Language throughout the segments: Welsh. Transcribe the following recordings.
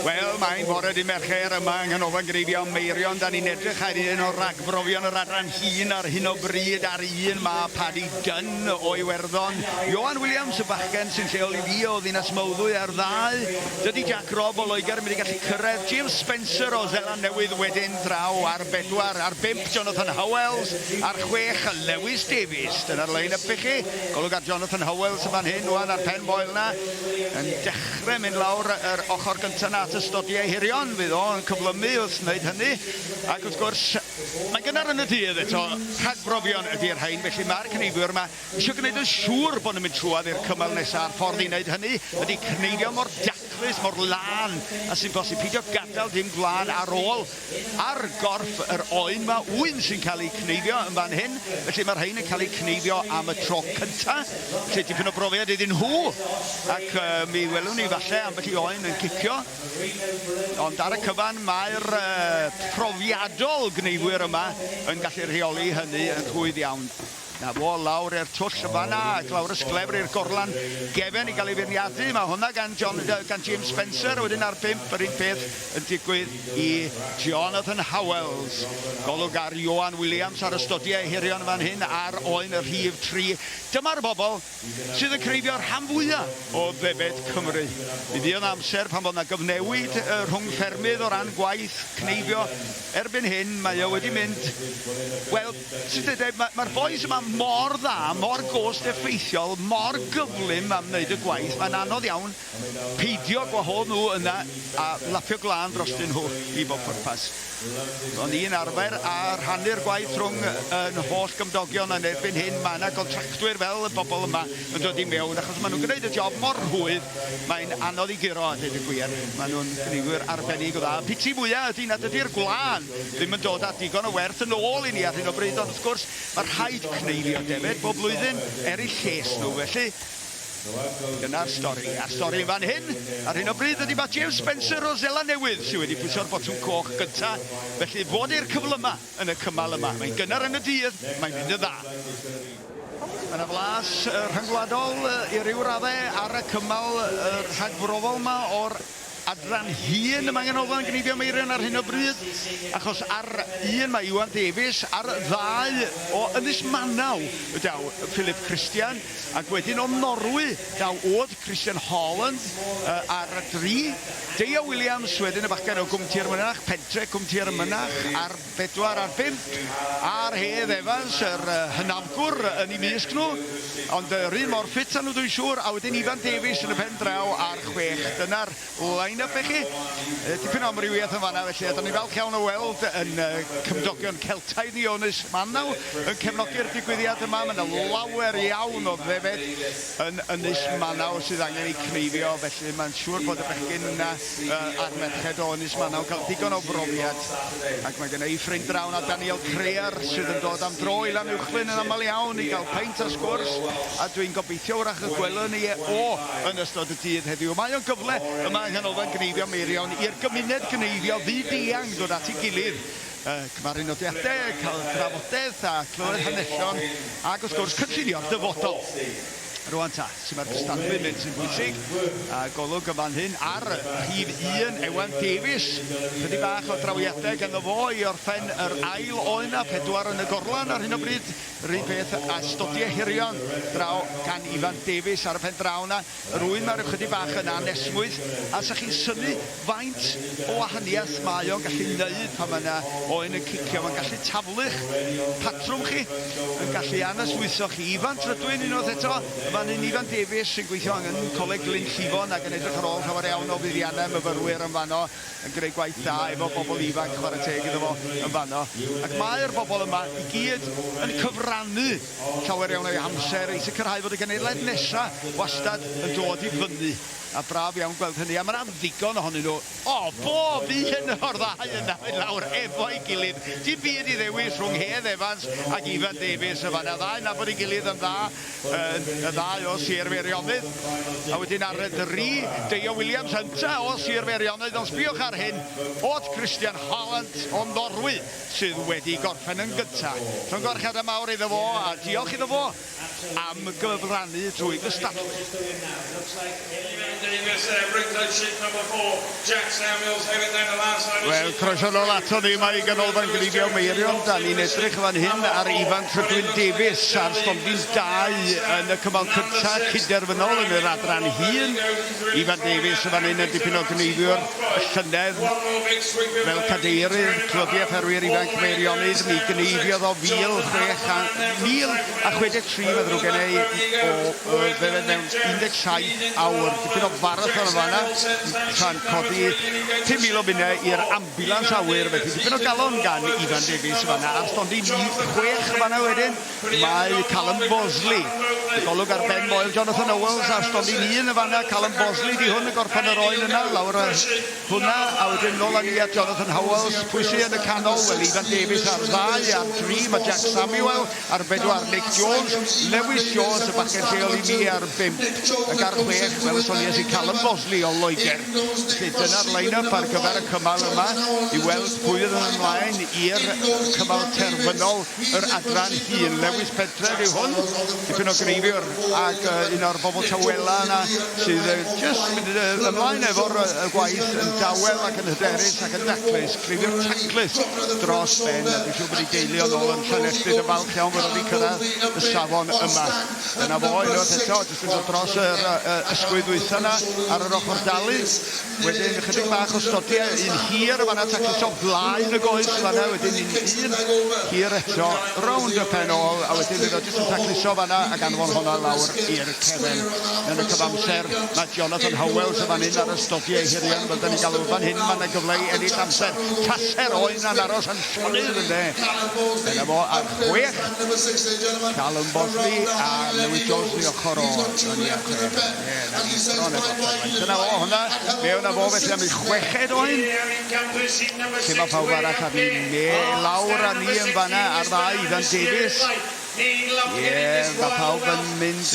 Wel, mae'n bore dy Mercher yma yng Nghanolfan Greifion Meirion. Da ni'n edrych ar un o ragbrofion yr adran hŷn ar hyn o bryd ar un ma, Paddy Dunne o Iwerddon. Ioan Williams, y bachgen sy'n lleol i fi o Ddinas Mawddwy ar ddau. Dydy Jack Robb o Loegr yn mynd i gallu cyrraedd. James Spencer o Seland Newydd wedyn draw ar bedwar. Ar bump, Jonathan Howells. Ar chwech, Lewis Davies. Dyna'r line-up i chi. Golwg ar Jonathan Howells yn fan hyn wan ar pen moel 'na. Yn dechrau. Dechrau mynd lawr yr ochr gyntaf na at ystodi ei hirion, fydd o yn cyflymu wrth wneud hynny, ac wrth gwrs, mae'n gynnar yn y dydd eto, rhagbrofion ydy'r rhain, felly mae'r cneifwyr yma eisiau gwneud yn siŵr bod nhw'n mynd trwad i'r cymal nesaf, a'r ffordd i wneud hynny ydy cneifio mor daclus, mor lân a sy'n bosib, pidio gadael dim gwlân ar ôl, Ar gorff yr oen mae ŵyn sy'n cael eu cneifio yn fan hyn, felly mae'r rhain yn cael eu cneifio am y tro cyntaf, felly dipyn o brofiad iddyn nhw, ac uh, mi welwn ni falle ambell i oen yn cicio, ond ar y cyfan mae'r uh, profiadol gneifwyr yma yn gallu rheoli hynny yn rhwydd iawn. 'Na fo, lawr i'r twll yn fan'na, ac lawr y sglefr i'r gorlan gefen i gael ei feirniadu. Mae hwnna gan John, gan James Spencer, a wedyn ar bump yr un peth yn digwydd i Jonathan Howells. Golwg ar Ioan Williams ar ystodiau ei herion yn fan hyn ar oen y rhif tri. Dyma'r bobl sydd yn creifio rhan fwya o ddefaid Cymru. Mi fuodd 'na amser pan fod 'na gyfnewid rhwng ffermydd o ran gwaith cneifio. Erbyn hyn mae o wedi mynd, wel, Sut ydw i? Mae'r bois yma mor dda, mor gost effeithiol, mor gyflym am wneud y gwaith, mae'n anodd iawn peidio gwahodd nhw yna a lapio glân drostyn nhw i bob pwrpas. O'n i'n arfer a rhannu'r gwaith rhwng yn holl gymdogion yn erbyn hyn mae yna gontractwyr fel y bobl yma yn dod i mewn achos maen nhw'n gwneud y job mor rhwydd mae'n anodd i guro a dweud y gwir. Maen nhw'n gneifwyr arbennig o dda. Y piti mwyaf ydy nad ydy'r gwlân ddim yn dod â digon o werth yn ôl i ni ar hyn o bryd, ond wrth gwrs, mae rhaid cneifio defaid bob blwyddyn er eu lles nhw, felly dyna'r stori. A'r stori yn fan hyn, ar hyn o bryd ydy mae James Spencer o Zela Newydd sydd wedi pwyso'r botwm coch gynta, felly fod i'r cyflyma yn y cymal yma. Mae'n gynnar yn y dydd, mae'n mynd yn dda. Mae yna flas rhyngwladol i ryw raddau ar y cymal rhagfrofol yma o'r Adran hŷn y mae Nghanolfan Gneifio Meirion ar hyn o bryd, achos ar un mae Iwan Davies, ar ddau o Ynys Manaw daw Philip Christian, ac wedyn o Norwy daw oedd Christian Holland ar dri, Deia Williams wedyn y bachgen o Gwm Tir Mynach, pentre Cwm Tir y Mynach, ar Pedwar ar bump ar Hedd Evans, yr hynafgwr yn eu mysg nhw, ond yr un mor ffit â nhw dwi'n siŵr, a wedyn Ifan Davies yn y pen draw ar chwech. Dyna'r line-up i chi. Dipyn o amrywiaeth yn fanna felly, a dan ni'n falch iawn o weld yn cymdogion Celtaidd Ionis Mannau yn cefnogi'r digwyddiad yma. Mae yna lawer iawn o ddefed yn Ynys Mannau sydd angen eu cneifio, felly mae'n siŵr bod y bechgyn yna Yy a'r merched o Ynys Manaw cael digon o brofiad ac mae genna i ffrind draw 'na Daniel Crear sydd yn dod am dro i Lanuwchllyn yn aml iawn i gael peint a sgwrs a dwi'n gobeithio wrach y gwelwn ni e o yn ystod y dydd heddiw. Mae o'n gyfle yma yng Nghanolfan Gneifio Meirion i'r gymuned gneifio fyd-eang ddod at ei gilydd, yy cymaru nodiadau, cael drafodaeth a clywed hanesion ac wrth gwrs cynllunio'r dyfodol. Rwan ta, sut mae'r cystadlu'n mynd sy'n bwysig, a golwg yn fan hyn ar rhif un, Ewan Davies. Chydig bach o drawiadau ganddo fo i orffen yr ail oen na pedwar yn y gorlan ar hyn o bryd. Rhywun peth a stodiau hirion draw gan Ifan Davies ar y pen draw na. Rwy'n mae'r ychydig bach yn anesmwyth, a sa chi'n synu Faint o wahaniaeth mae o'n gallu neud pan mae 'na oen yn cicio? Mae'n gallu taflu'ch patrwm chi, yn gallu anesmwytho chi. Ifan Trydwyn unwaith eto, y fan hyn, Ifan Davies sy'n gweithio yng Ngholeg Glyn Llifon ac yn edrych ar ôl llawer iawn o fuddiannau myfyrwyr yn fanno, yn gwneud gwaith da efo bobl ifanc, chwarae teg iddo fo, yn fanno. Ac mae'r bobl yma i gyd yn cyfrannu llawer iawn o'u hamser i sicrhau fod y genhedlaeth nesa' wastad yn dod i fyny. A braf iawn gweld hynny, a mae'n am ddigon ohonyn nhw. O, bob un o'r ddau yna i lawr efo'i gilydd. Dim byd i ddewis rhwng Hedd Evans ac Ifan Davies yn fan'na. Ddau yn nabod ei gilydd yn dda, y ddau o Sir Feirionnydd. A wedyn ar y dri, Deio Williams ynta o Sir Feirionnydd, ond sbïwch ar hyn, Odd Christian Hollant o Norwy sydd wedi gorffen yn gynta. Llongyfarchiadau mawr iddo fo, a diolch iddo fo am gyfrannu drwy gystadlu. Wel, croeso nol ato ni, mae Ganolfan Gleifion Meirion, da ni'n edrych fan hyn ar Ifan Trydwyn Davies a'r stondin dau yn y cymal cynta' cyd-derfynol yn yr adran hŷn. Ifan Davies yn fan hyn yn dipyn o gneifiwr llynedd fel cadeirydd clybiau ffermwyr ifanc Meirionnydd. Mi gneifiodd o 1,063 mae'n ddrwg gen i o fe mewn 17 awr. Dipyn o farathon yn fanna tra'n codi 5,000 o bunnau i'r ambulans awyr felly dipyn o galon gan Ifan Davies yn fanna a'r stondin chwech yn fanna wedyn. Mae Callum Bosley, y golwg ar ben Moel Jonathan Owells a stondin un yn fanna. Callum Bosley di hwn y gorffen yr oen yna, lawr y hwnna, a wedyn nôl â ni at Jonathan Howells. Pwy sydd yn y canol? Wel, Ifan Davies ar ddau, ar dri mae Jack Samuel, ar bedwar Nick Jones, Lewis Jones, y bachgen lleol i mi ar bimp. Ac ar chwech, fel y sonies i Callum Bosley o Loegr. Felly dyna'r line-up ar gyfer y cymal yma i weld pwy fydd yn ymlaen i'r cymal terfynol. yr adran hŷn. Lewis Pentref yw hwn, tipyn o greifiwr ac uh, un o'r bobl tawela yna sydd uh, just mynd uh, ymlaen efo'r uh, gwaith yn dawel ac yn hyderus ac yn daclus, creifiwr taclus dros ben. Dwi'n siŵr bod ei deulu o'n ôl yn Llanelltyd yn falch iawn bod wedi cyrraedd y safon yma. Yna fo, unwaith eto, jyst yn dod dros yr uh, ysgwydd ddwytha yna ar yr ochr dalu. Wedyn ychydig bach o stodio, un hir o fanna taclus o flaen y goes o fanna, wedyn un hir eto rownd y pen ôl, a wedyn iddo jyst yn tacluso fanna ac anfon honna lawr i'r cefn. Yn y cyfamser, mae Jonathan Howells yn fan hyn ar y stodio hirion, fel da ni'n galw fan hyn, mae yna gyfle i ennill amser. Taser o un a'n aros yn llonydd ynde. Dyna fo ar chwech, Callum Bosley a Lewis Jones yn ei ochr o, yn ei ochr. Yn y byd bron ag offside rwan. Dyna fo hwnna. Fe yna fo felly am ei chweched oen. Lle mae pawb arall ar ni me lawr a ni yn fanna ar ddau Ifan Davies. Ie, mae pawb yn mynd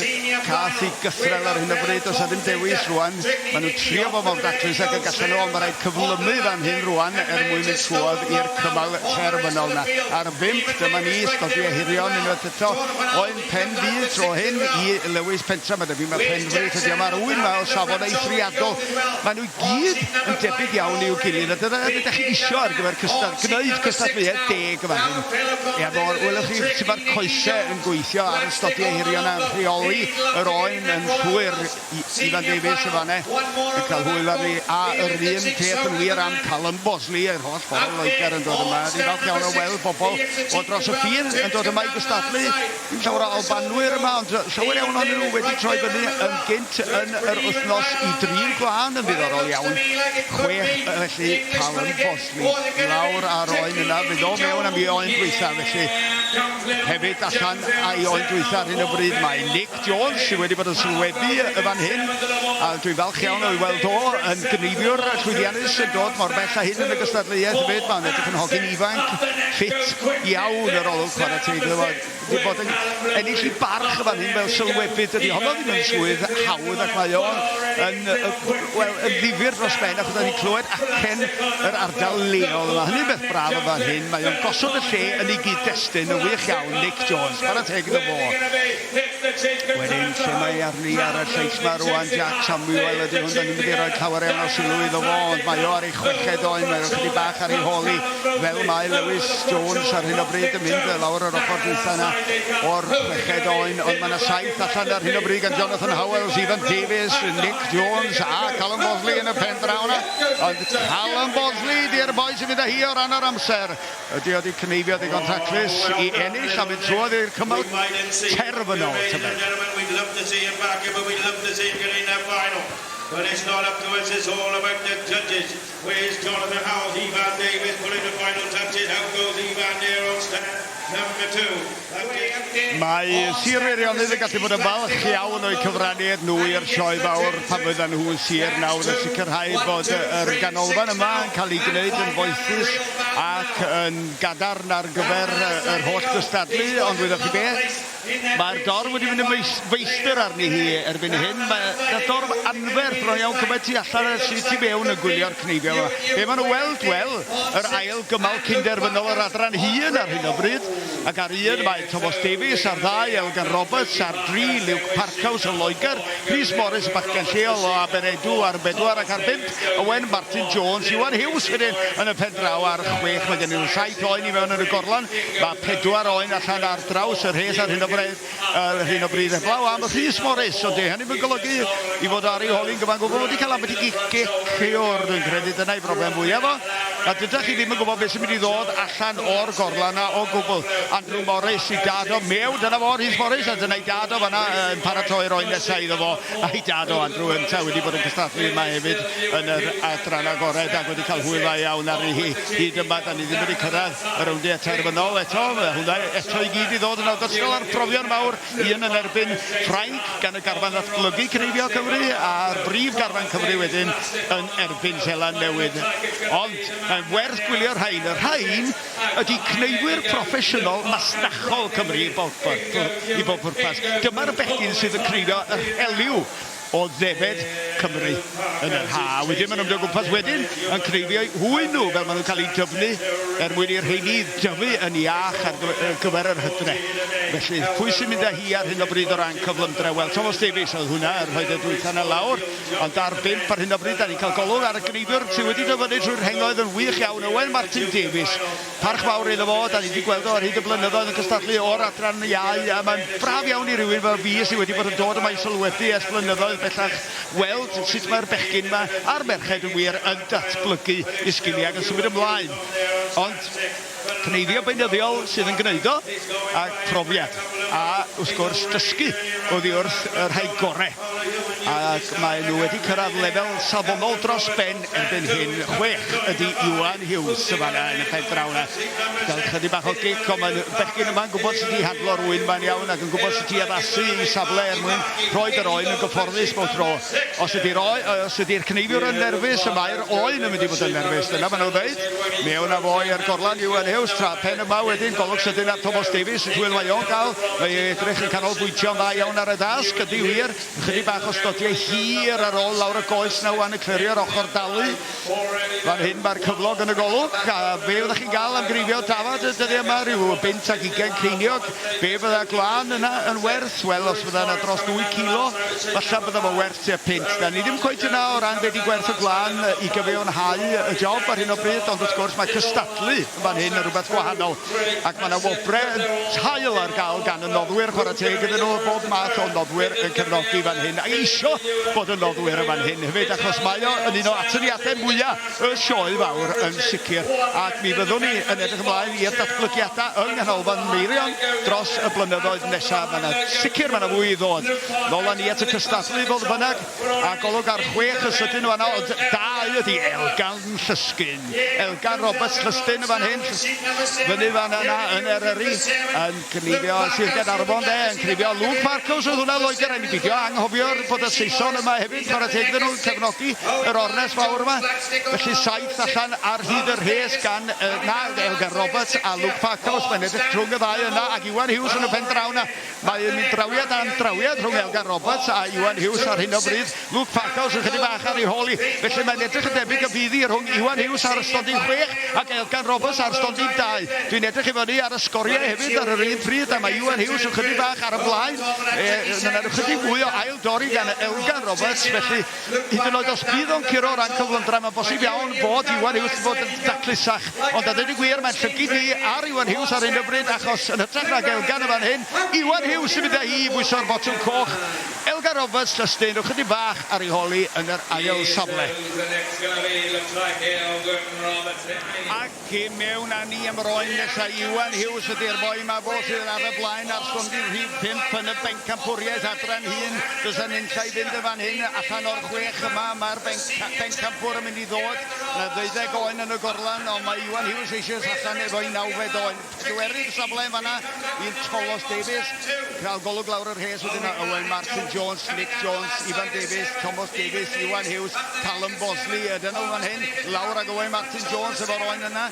cath i gythrel ar hyn o bryd. Does na ddim dewis rwan. Maen nhw'n trio fo mor daclus ac y gallan nhw ond mae rhaid cyflymu fan hyn rwan er mwyn mynd trwodd i'r cymal terfynol na. Ar bimp, dyma ni, sgodiau hirion unwaith eto. Oen Pen fydd tro hyn i Lewis Pentra, mae debyg mae Penfrith ydi yma ar ŵyn yma o safon eithriadol. Mae nhw gyd yn debyg iawn i'w gilydd a dyna yr ydych chi isio ar gyfer cystad, gwneud cystadleuaeth deg yma hyn. Ia, mor, welwch chi sut mae'r coesau yn gweithio ar ystodiau hirion a'n rheoli yr oen yn llwyr. I, Ifan Davies yn fan'ne yn cael hwyl arni, a yr un peth yn wir am Callum Bosley, yr holl bobl yn Loegr yn dod yma. Ni'n falch iawn o weld bobl o dros y ffin yn dod yma i gystadlu. Dim llawer o Albanwyr yma, ond llawer iawn o'n nhw wedi troi fyny yn gynt yn yr wythnos i drin gwlân yn ddiddorol iawn. Chwech, felly, Callum Bosley lawr ar oen yna, fydd o mewn am ei oen dwytha, felly hefyd allan a'i oen dwytha ar hyn o bryd mae Nick Jones, sydd wedi bod yn sylwebu y fan hyn, a dwi'n falch iawn o'i weld o yn gyneifiwr llwyddiannus yn dod mor bell â hyn yn y gystadleuaeth hefyd. Mae'n edrych yn hogyn ifanc, ffit iawn yr olwg chwarae teg iddo fo. Wedi bod yn ennill i barch y fan hyn fel sylwebu, dydy honno ddim yn swydd hawdd ac mae o yn, wel, yn ddifyr dros ben achos da ni'n clywed acen yr ardal leol yma. Hynny'n beth braf y fan hyn. Mae o'n gosod y lle yn ei gyd-destun yn wych iawn, Nick Jones. Chwarae teg iddo fo. Wedyn, lle mae arni ar y lleill 'ma rŵan, Jack Samuel ydy hwn, dan ni'n mynd i roi llawer iawn o sylw iddo fo, ond mae o ar ei chweched oen, mae o chydig bach ar ei hôl i, fel mae Lewis Jones ar hyn o bryd yn mynd lawr yr ochr dwytha yna o'r chweched oen, ond mae yna saith allan ar hyn o bryd gan Jonathan Howells, Ivan Davies, Nick Jones a Callum Bosley yn y pen draw yna, ond Callum Bosley di'r boi sy'n mynd â hi o ran yr amser. Ydy o wedi cneifio ddigon taclus i ennill a mynd trwodd i'r cymal terfynol, tybed? Mae Sir Feirionnydd yn gallu bod yn falch iawn o'u cyfraniad nhw i'r sioe fawr pan fyddan nhw yn sir nawr a sicrhau bod yr ganolfan yma yn cael ei gwneud yn foethus ac yn gadarn ar gyfer yr holl gystadlu ond wyddoch chi beth? Mae'r dorf wedi mynd yn feistr arni hi erbyn hyn. Mae y dorf anferth rhoi iawn cymaint tu allan a sydd tu mewn yn gwylio'r cneifion yma. Be maen nhw weld? Wel, yr ail gymal cyn-derfynol yr adran hŷn ar hyn o bryd. Ac ar un mae Tomos Davies, ar ddau Elgan Roberts, ar dri Luke Parkhouse o Loegr, Rhys Morris y bachgen lleol o Aberedu ar bedwar ac ar bump Owen Martin Jones, Iwan Huws wedyn yn y pen draw ar chwech. Mae gennym nhw saith oen i mewn yn y gorlan, mae pedwar oen allan ar draws y rhes ar hyn o bryd. ar hyn o bryd heblaw am Rhys Morris, ond dyw hynny ddim yn golygu ei fod ar ei hol hi'n gyfan gwbl wedi cael ambell i gic i o'r dwi'n credu dyna ei broblem fwyaf o, a dydych chi ddim yn gwybod beth sy'n mynd i ddod allan o'r gorlan yna o gwbl. Andrew Morris i dad o Mew, dyna fo Rhys Morris, a dyna'i dad o fanna yn paratoi roi nesau iddo fo, a'i dad o Andrew ynta wedi bod yn cystadlu yma hefyd yn yr adran agored ac wedi cael hwyl dda iawn arni hi. Hyd yma, da ni ddim wedi cyrraedd y rowndiau terfynol eto. Mae hwnna eto i gyd i ddod yn ogystal â'r profion mawr un yn erbyn Ffrainc gan y garfan ddatblygu cneifio Cymru a'r brif garfan Cymru wedyn yn erbyn Seland Newydd. Ond mae'n werth gwylio'r rhain. Y rhain ydy cneifwyr proffesiynol masnachol Cymru i bob pwrpas. Dyma'r bechgyn sydd yn cneifio yr heliw o ddefaid Cymru yn yr ha'. Wedyn maen nhw'n mynd o gwmpas wedyn yn cneifio eu hwy nhw fel maen nhw'n cael eu dyfnu er mwyn i'r rheini dyfu yn iach ar gyfer yr hydre. Felly pwy sy'n mynd â hi ar hyn o bryd o ran cyflymdra? Wel Tomos Davies oedd hwnna yn rhoi'r dwytha 'na lawr ond ar bump ar hyn o bryd. Dan ni'n cael golwg ar y gneifiwr sydd wedi dyfynnu trwy'r rhengoedd yn wych iawn Owen Martin Davies. Parch fawr iddo fo, 'dan ni 'di gweld o ar hyd y blynyddoedd yn cystadlu o'r adran iau, a mae'n braf iawn i rywun fel fi sydd wedi bod yn dod yma i sylwebu ers blynyddoedd bellach weld sut mae'r bechgyn 'ma, a'r merched yn wir, yn datblygu i sgiliau ac yn symud ymlaen. Ond cneifio beunyddiol sydd yn gneud o, a profiad, a wrth gwrs dysgu oddi wrth y rhai gore, ac maen nhw wedi cyrraedd lefel safonol dros ben. Erbyn hyn, chwech ydy Iwan Hughes yn fan'na yn y pen draw 'na. Gael chydig bach o gic, ond mae'n bechgyn yma'n gwybod sut i handlo rwy'n mae'n iawn ac yn gwybod sut i addasu i safle er mwyn rhoi yr oen yn gyfforddus bob tro. Os ydy'r oe- os ydy'r cneifiwr yn nerfus, y mae'r oen yn mynd i fod yn nerfus. Dyna maen nhw'n ddeud. Mewn â fo i'r gorlan, Iwan Hughes, tra pen yma wedyn, golwg sydyn ar Tomos Davies, sut hwyl mae o'n cael. Mae ei edrych yn canolbwyntio'n dda iawn ar y dasg, ydy wir. Ychydig bach o stotiau hir ar ôl lawr y goes 'na ŵan yn clirio ar ochr Dalu. Fan hyn mae'r cyflog yn y golwg, a be fyddech chi'n gael am greifio dafad y dyddiau yma? Rhyw bunt ac ugain ceiniog. Be fydda gwlân yna yn werth? Wel, os fydda yna dros dwy cilo, falla bydda fo werth tua punt. Da ni ddim cweit yna o ran be di gwerth y gwlân i gyfiawnhau y job ar hyn o bryd, ond wrth gwrs mae cystadlu. fan hyn yn rhywbeth gwahanol ac mae yna wobre yn tail ar gael gan y noddwyr chwarae teg iddyn nhw bob math o noddwyr yn cefnogi fan hyn a eisio bod y noddwyr yn fan hyn hefyd achos mae o yn un o atyniadau mwyaf y sioe fawr yn sicr ac mi fyddwn ni yn edrych ymlaen i'r datblygiadau yng Nghanolfan Meirion dros y blynyddoedd nesaf mae yna sicr mae yna fwy i ddod nôl â ni at y cystadlu fodd bynnag A golwg ar chwech y sydyn yma, no, dau ydi Elgan Llysgyn. Elgan Roberts Llysgyn yn fan hyn, fyny fan yna yn Eryri, yn cnifio Sir Gaernarfon de, yn cnifio Luke Marcos oedd hwnna Lloegr, rhaid mi bidio, anghofio'r bod y Saeson yma hefyd, chwarae teg iddyn nhw'n cefnogi yr ornes fawr yma. Felly saith allan ar hyd y rhes gan uh, na, Elgan Roberts a Luke Marcos, mae'n edrych drwng y ddau yna, ac Iwan Hughes yn y pen draw yna, Mae un drawiad am drawiad rhwng Elgar Roberts a Iwan Huws ar hyn o bryd. Luke Parkhouse yn chydig bach ar ei hôl hi, felly mae'n edrych yn debyg y fydd hi rhwng Iwan Huws ar stondin chwech ac Elgar Roberts ar stondin dau. Dwi'n edrych i fyny ar y sgoriau hefyd ar yr un pryd a mae Iwan Huws yn chydig bach ar y blaen. Mae 'na ychydig mwy o ail-dorri gan Elgar Roberts, felly Hyd yn oed os bydd o'n curo o ran cyflymdra, mae'n bosib iawn fod Iwan Huws yn bod yn daclusach. Ond a dweud y gwir, mae'n llygid fi ar Iwan Huws ar hyn o bryd achos, yn hytrach nag Elgan yn fan hyn, Iwan Huws sy'n mynd â hi i bwyso'r botwm coch. Elgan Roberts, Llystaen, rhowch ychydig bach ar ei hol hi yn yr ail safle. Ac, Cyn mewn â ni am yr oen nesaf, Iwan Hughes ydy'r boi ma, fo sydd ar y blaen ar stondin rhif pump yn y bencampwriaeth adran hyn. Does 'na nunlla i fynd yn fan hyn, allan o'r chwech yma, mae'r bencampwr yn mynd i ddod. 'Na ddeuddeg oen yn y gorlan, ond mae Iwan Hughes eisioes allan efo'i nawfed oen. Cywerydd y safle yn fanna i'r Tolos Davies. Crawl golwg lawr y rhes wedyn a Owen Martin Jones, Nick Jones, Ifan Davies, Tomos Davies, Iwan Hughes, Callum Bosley. Y dynol fan hyn, lawr ag Owen Martin Jones efo'r oen yna.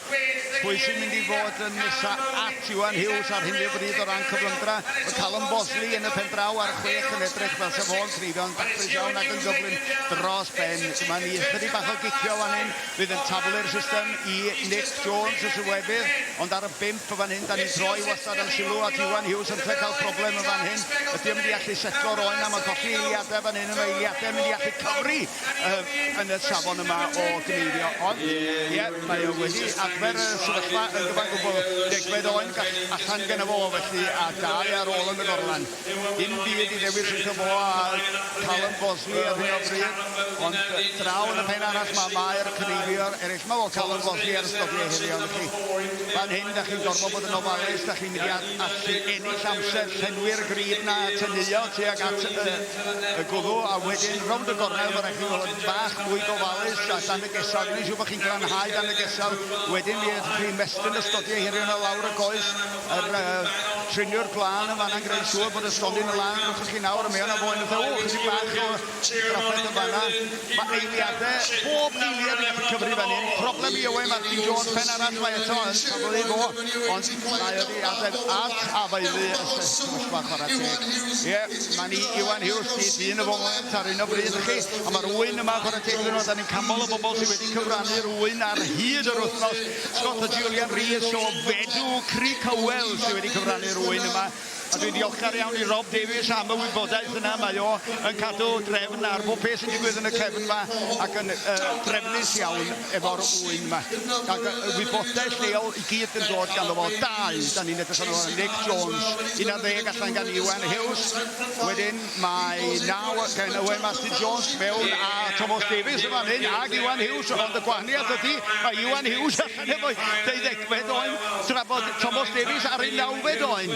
Pwy sy'n mynd i fod yn nesa at Iwan Hughes ar hyn o bryd o ran cyflymdra? Mae Callum Bosley yn y pen draw ar chwech yn edrych fel sef o'n treiddo'n daclus iawn ac yn gyflym dros ben. Dyma ni ychydig bach o gicio fan hyn Bydd yn taflu'r system i Nick Jones y Sylwebydd, ond ar y bump fan hyn, da ni'n troi wastad yn sylw at Iwan Hughes yn lle cael problem yn fan hyn. Ydy o'n mynd i allu setlo roen am y colli eiliadau fan hyn, mae eiliadau mynd i allu cyfri uh, yn y safon yma o gneifio, ond ie, yeah, mae o wedi adfer y sefyllfa yn gyfan gwbl degfed oen gall allan gen o fo felly a dau ar ôl yn y gorlan. Dim byd i ddewis rhyngddo fo a Callum Bosney ar hyn o bryd, ond draw yn y pen arall mae Mair Cneifeor eraill. Mae o, Callum Bosney ar ystod ei heriau arnoch chi. Fan hyn, da chi'n gorfod bod yn ofalus, da chi'n mynd i allu ennill amser, llenwi'r grib 'na a teneuo tuag at y gwddw, a wedyn rownd y gornel mae'n rhaid chi fod yn bach mwy gofalus a dan y gesawd, gwneud siŵr bod chi'n glanhau dan y gesawd, wedyn mi fedrwch chi ymestyn ystodiau hirion o lawr y goes. yr uh, triniwr glân yn fanna'n gwneud siŵr bod y stondin yn lan wrth chi nawr a mae yna foen yn ddew chydig bach o drafferth yn fanna mae eiliadau bob eiliad yn gallu cyfri fan hyn problem i Owen Martin Jones pen arall mae eto yn cafodd ei fo ond mae wedi adeg at afaelu y sefyllfa chwarae teg ie mae ni Iwan Hughes di dyn y foment ar un o bryd chi a mae'r wy'n yma chwarae teg iddyn nhw da ni'n canmol y bobl sydd wedi cyfrannu rwy'n ar hyd yr wythnos Scott a Julian Rees o Fedw Crug Hywel sydd wedi cyfrannu rwy'n yma. A dwi'n ddiolchgar iawn i Rob Davies am y wybodaeth yna. Mae o yn cadw drefn ar bob peth sy'n digwydd yn y cefn yma ac yn uh, drefnus iawn efo'r wy'n yma. Ac uh, wybodaeth lleol i gyd yn dod gan fo. Dau, da ni'n edrych arno Nick Jones, 11 allan gan Iwan Hughes. Wedyn, Mae naw gen Owen Matthew Jones mewn a Thomas Davies yn fan hyn ag Iwan Hughes, ond y gwahaniaeth ydy mae Iwan Hughes allan efo deuddegfed oen tra bod Thomas Davies ar ei nawfed oen.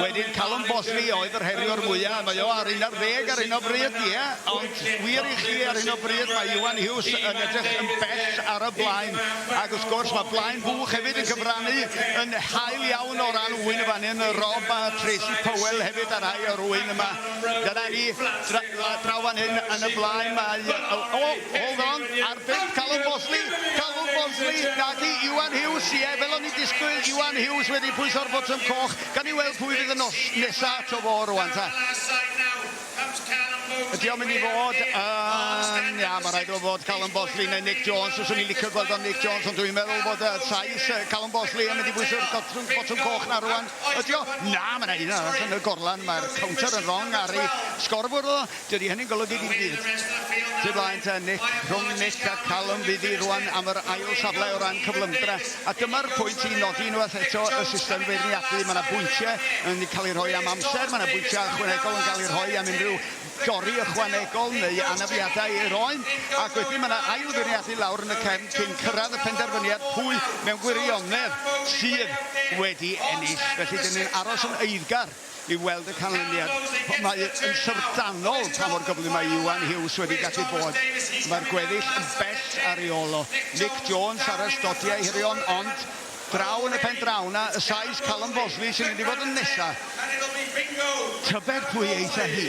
Wedyn Callum Bosley oedd yr heriwr mwya, mae o ar un ar ddeg ar hyn o bryd, ie, ond wir i chi ar hyn o bryd mae Iwan Hughes yn edrych yn bell ar y blaen, ac wrth gwrs mae Blaen Bwch hefyd yn cyfrannu yn hael iawn. Un o ran ŵyn yn fan hyn, Rob a Tracy Powell hefyd a rhai o'r ŵyn yma. Dyna ni, dra, draw fan hyn yn y blaen mae... O, oh, oh, hold on, ar bump Calum Bosley, Calum Bosley, naci, Iwan Hughes, ie, fel o'n i disgwyl, Iwan Hughes wedi pwyso'r botwm coch. Gan i weld pwy fydd y nos nesa to fo rwan ta. Ydy o'n mynd i fod yn... Ia, mae'n rhaid o fod Callum Bosley neu Nick Jones. Fyswn i'n licio gweld o'n Nick Jones, ond dwi'n meddwl bod y sais Callum Bosley yn mynd i bwyso'r botwm, botwm coch na rwan. Ydy o? Na, mae'n rhaid yna yn y gorlan. Mae'r counter yn wrong ar ei sgorbwr o. Dydy hynny'n golygu dim byd. Ty blaen te, Nick, rhwng Nick a Callum fydd hi rwan am yr ail safle o ran cyflymdra. A dyma'r pwynt i nodi unwaith eto y system feirniadu. Mae yna bwyntiau yn cael eu rhoi am amser, mae yna bwyntiau ychwanegol yn cael eu rhoi am unrhyw dorri ychwanegol neu anafiadau i'r oen, ac wedyn mae yna ail feirniadu lawr yn y cefn cyn cyrraedd y penderfyniad pwy mewn gwirionedd sydd wedi ennill. Felly, dyn ni'n aros yn eiddgar. i weld y canlyniad. Mae yn syfrdanol pa mor gyflym mae Iwan Hughes wedi gallu bod. Mae'r gweddill yn bell ar ei ôl o. Nick Jones ar y stodiau hirion ond draw yn y pen draw yna y sais Callum Bosley sy'n mynd i fod yn nesa. Tybed pwy eith â hi?